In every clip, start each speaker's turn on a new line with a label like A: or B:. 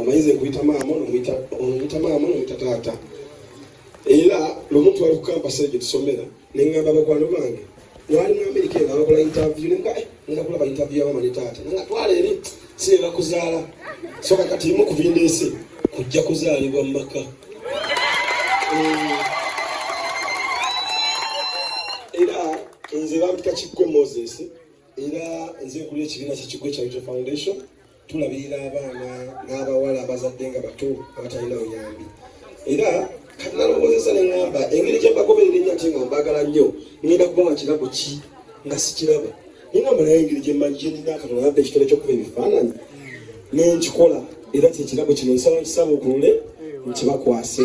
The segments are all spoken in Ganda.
A: omuyizi nkuyita maama nomuyita maama nomuyita taata era lumu twali ku kampasi egyo tusomera ne ngamba bakwano bange wali mu amerika eno abakola interview ne nga eh, nga kulaba interview ya mama ne taata nanga twala eri sireba kuzaala soka kati imu ku bindeese kujja kuzaalibwa mu maka eh, era nze bampita kiggwe moses era nze nkulira ekibiina kyekiggwe kya foundation tulabirira abaana n'abawala abazadde nga bato abatalina buyambi era kati nalowoozesa ne ŋŋamba engeri gye mbagoberera ennyo ate nga mbaagala nnyo ngenda kubawa kirabo ki nga sikiraba ningamba naye engeri gye mmanyi gyenina katonda abadde ekitole ky'okuba ebifaananyi ne nkikola era kyekirabo kino nsaba nkisabukulule nkibakwase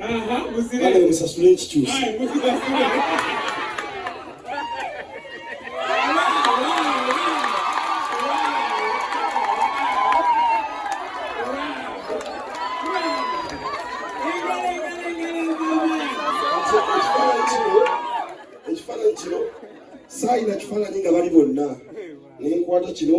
B: Aha, muzire. Kale musasule
A: ekikyusa. Aye, muzire. ekifaananyi kino saayina kifaananyi nga bali bonna nenkwata kino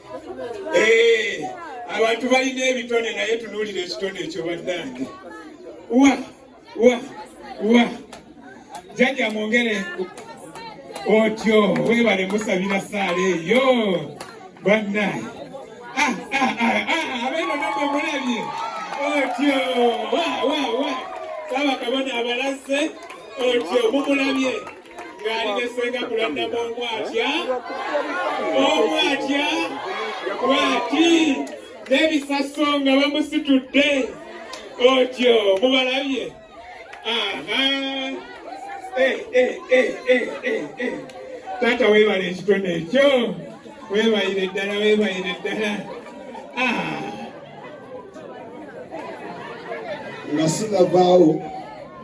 B: Eh, abantu balina ebitone naye tunuulira ekitone ekyo bannange wa wa wa jajja mwongere otyo webale musabira saala eyo bannange ah, ah, ah, abeeno namwe mulabye otyo wa wa wa saaba kabona abalaze otyo mumulabye ng'ali ne ssenga kulandama omu atya omu atya bwati n'ebisaso nga bamusitudde otyo mubalabye aha eh, eh, eh, taata weebala ekitone ekyo weebayire ddala weebayire ddala ah.
A: nga sinavaawo